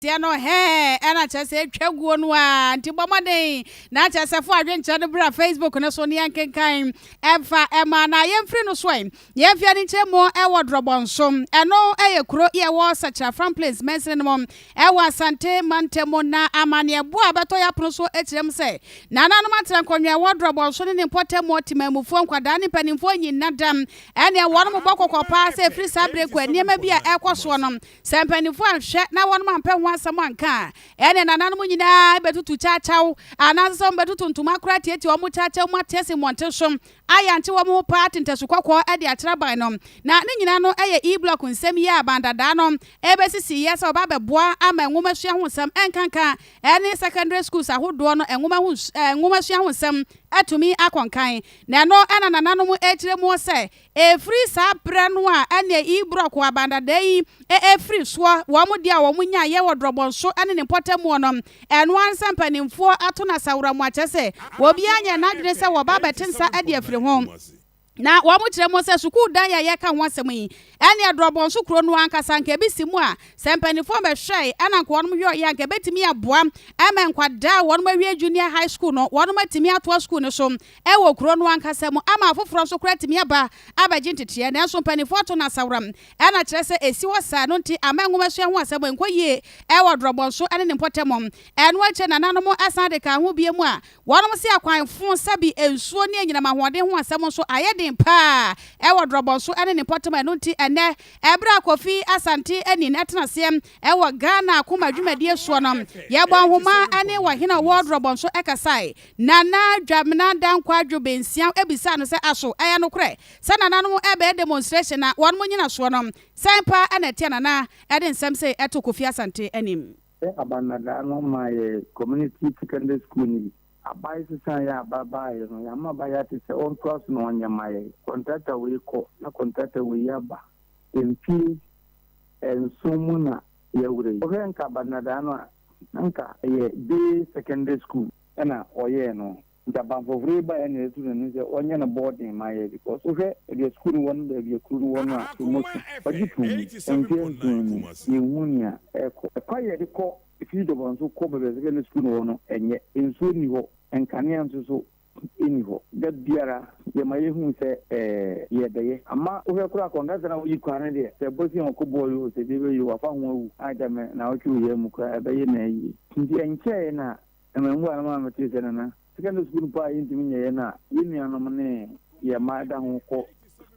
Aseɛ no hɛɛ na kyerɛ sɛ atwa guo no a nti bɔ mmɔden na kyerɛ sɛ fo adwenkyerɛ no bra Facebook no so ne yɛnkenkan ɛmfa ɛma na yɛmfiri no so ɛ na yɛmfi ani nkyerɛ mu ɛwɔ Drɔbɔ nso ɛno ɛyɛ kuro yɛ wɔ Sakyera Fram Plains mansini no mu ɛwɔ Asante mantam mu na amaneɛ boɔ a bɛtɔ yɛ apono so ɛkyerɛ mu sɛ nananom atra nkɔnwɛ ɛwɔ Drɔbɔ nso ne ne mpɔtam mu ɔtemanmufoɔ nkwadaa ne mpanimfoɔ nyina dam ɛneɛ wɔnom bɔ kɔkɔ paa sɛ ɛfiri saa berɛ kɔ nneɛma bi a ɛkɔ soɔ no Sɛ mpanyimfo anhwɛ na wɔnom ampɛ ho asɛm anka a, ɛne nananom nyinaa bɛtutu kyawkyaw, anaasɛ sɛ wɔbɛtoto ntoma koro atiatia wɔn kyawkyaw mu atease mmɔnten so, ayankye wɔn ho paa tentasu kɔkɔɔ de akyerɛ aban no. Na ne nyinaa no yɛ E-Block nsɛm yi a aban dadaa no bɛsisiiɛ sɛ wɔba abɛboa ama nwomasua ho nsɛm nkanka ne secondary schools ahodoɔ no nwoma ho nwomasua ho nsɛm atumi akɔ nkan. Na ɛno na nananom kyerɛ mu sɛ Ɛfiri saa berɛ no a ɛne Ibrɔko abandada yi firi soɔ, wɔn deɛ a wɔn nya yɛ wɔ Drɔbɔnso ne ne mpɔtamuo no, ɛno ara nsa mpanimfoɔ ato no asaworam mu akyerɛ sɛ obiara nyɛ n'adwene sɛ wɔba abɛte nsa de afiri ho. Na wɔn kyerɛ mu sɛ sukuu dan yi a yɛreka ho asɛm yi, ɛneɛ Drɔbɔnso kuro no ankasa anka ɛbɛsi mu a, sɛ mpanimfoɔ bɛhwɛɛe na anka wɔn yɔeɛ a, anka ɛbɛtumi aboa ma nkwadaa a wɔn awie Junior High School no, wɔn atumi atoa sukuu no so wɔ kuro no ankasa mu ama afoforɔ nso koraa atumi aba abɛgye nteteɛ nanso mpanimfoɔ ato no asaworam na kyerɛ sɛ ɛsi hɔ saa no nti amma nwomasua ho asɛm ankɔ yie wɔ Dorɔbɔnso ne ne mpɔtam. Ɛno akyire nananom san de kaa ho biom a wɔnom se akwan fo sa bi nsuo ne anyinam ahoɔden ho asɛm nso ayɛ den pa ara wɔ Dorɔbɔnso ne ne mpɔtam ɛno nti ɛnnɛ ɛberɛ a Kofi Asante Anin atena aseɛ wɔ Ghana Akoma Dwumadie soɔ no yɛbɔɔ nhoma ne ɔhene a ɔwɔ Dorɔbɔnso kasae Nana Dwamena Dankwadwo Bensiam bisaa no sɛ aso ɛyɛ nokorɛ sɛ nananom ɛbɛyɛ demonstration na wɔnom nyinasoɔ no sɛn paa na ɛteɛ Nana ɛde nsɛm sei ɛto Kofi Asante anim. Sɛ aba nnadaa no maa yɛ community secondary school no bi aba ɛsesaa yɛ aba baaeɛ no yɛama aba yɛ ate sɛ ɔntoa so na ɔnyɛ ma yɛ contractor wei kɔ na contractor wei aba mfie nson mu na yɛawerɛ yi wohwɛ nka aba nnadaa no a Anka ɛyɛ day secondary school na ɔyɛɛ no nti abanfɔfɔree baeɛ na yɛatu n'ani sɛ ɔnyɛ no boarding ma yɛ because wohwɛ baabi sukuu no wɔ ne baabi a kuro no wɔ no a ɛmmɔ tu. Ɔgye too mu mfeɛ nson mu yɛnhuu nea ɛrekɔ. Ɛkwan a yɛde kɔ fii Dɔbɔnso kɔ baabi a secondary school no wɔ no ɛnyɛ, nsuo nni hɔ, nkanea nso so nni hɔ. Da biara yɛma yɛhu sɛ yɛrebɛyɛ. Ama wohwɛ koraa kɔnkasa a woyi kwan no deɛ, sɛ ɛbɔ sin a ɔko boɔ yoo, sɛ deɛ ɛbɛyɛ oo, wafa ho awu. Agya me naawɔtwe wɔ yɛn mu koraa, ɛbɛyɛ no ara yie. Nti ɛnkyɛeɛ na mmamu a na maa metee sɛ nana, sekɛndere sukuu no mpo a yɛntumi nyɛ yɛn a yɛn nuanom ne yɛn mma ɛda ho kɔ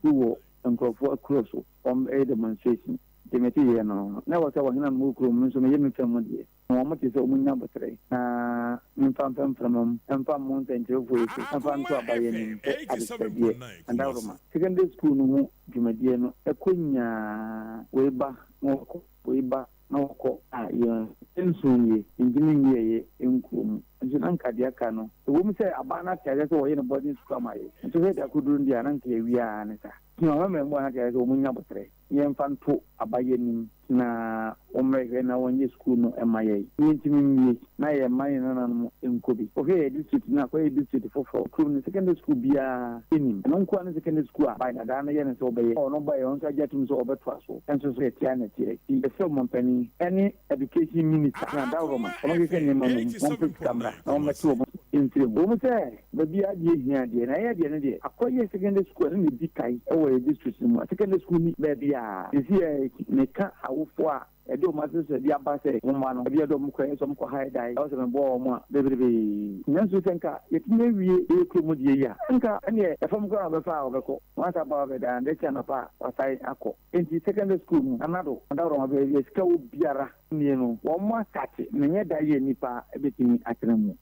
sukuu wɔ nkurɔfoɔ akuro so wɔyɛ demonstration. Nti metee yɛn no, na ɛwɔ sɛ wɔhena no mu wɔ kurom, me nso meyɛ me fa mu deɛ. Ma wɔn te sɛ wɔn nya aboterɛ, na memfa mfɛ mfremom, ɛmfa mmo nsɛnkyerɛwfoɔ so, ɛmfa nto abaeɛ anim sɛ adesrɛdeɛ, adaworoma. Secondary school no ho dwumadie no ɛkɔ nyaa, wei ba na wɔkɔ, wei ba na wɔkɔ, a yɛn nsuo nwie, yɛntumi nwie yɛ nkuro mu, nso na nka deɛ aka no, ɛwɔ mu sɛ abaa no ate aseɛ sɛ wɔyɛ no boarding school ama yɛ, nso sɛ ɛde akɔduru no deɛ a na nka yɛawie ara ne saa, nti mama mmaamua no ate aseɛ sɛ wɔn nya aboterɛ. Yɛmfa nto aba yɛ anim na wɔmmrɛ hwɛ na wɔnyɛ sukuu no mma yɛn. Yɛntumi nwie na yɛmma yɛn nananom nkɔ bi. Wohwɛ yɛn district no a, kɔyɛ district foforɔ, kurom no secondary sukuu biara nnim. Ɛno nkoa ne secondary sukuu a by dadaa no yɛ ne sɛ ɔbɛyɛ. Ɔno baeɛ, ɔno nso agye atom sɛ ɔbɛtoa so nso so. Ɛteɛ ara na ɛteɛ. Nti yɛsrɛ Ɔmanpanin ne Education Minister, Nana Dawuro ma wɔnhwehwɛ nneɛma no mu, wɔmfa sika mmra na wɔmmɛto wɔn mfiri ho. Ɛwɔ mu sɛ Baabi a adeɛ hia deɛ, na yɛn deɛ no deɛ, Akwayiɛ Secondary School ɛno na ɛdi kan wɔ yɛn district no mu a secondary school nni baabiara. Seesei a meka awofoɔ a ɛde wɔn asrɛsrɛdeɛ aba sɛ wɔn mma no, ɛdeɛ a ɛde wɔn kɔɛ sɛ wɔn kɔ high dae ɛwɔ sɛ meboa wɔn a, beberebee. Nanso sɛ nka yɛtumi awie yɛn kurom deɛ yi a, nka ɛnneɛ ɛfam koraa na wɔbɛfa a wɔbɛkɔ. Wɔasa aba hɔ bɛda, daakye anɔpa a wɔasan akɔ. Enti secondary school no, anadwo, adaworoma baabi a sika wɔ biara nie no, wɔastate na ɛnyɛ da yi a nnipa bɛtumi atena mu.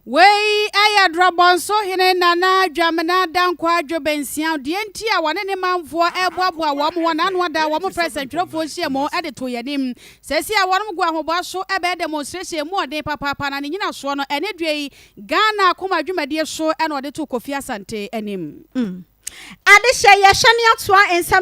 Wei yɛ Drɔbɔnso hene Nana Dwamena Dankwa Adwo Bensiaw. Deɛ nti a wɔne ne manfoɔ reboaboa wɔn ho n'ano ada wɔn frɛ sɛntwerɛfoɔ nhyiamu de to yɛn anim. Seesei a wɔn gu ahoboa so bɛyɛ demonstration ɛmu ɔden papaapa na ne nyinasoɔ no ɛne deɛ yi Ghana akoma dwumadie so na ɔde to Kofi Asante anim. Adehyɛ yɛ hyɛne atoa nsɛm no.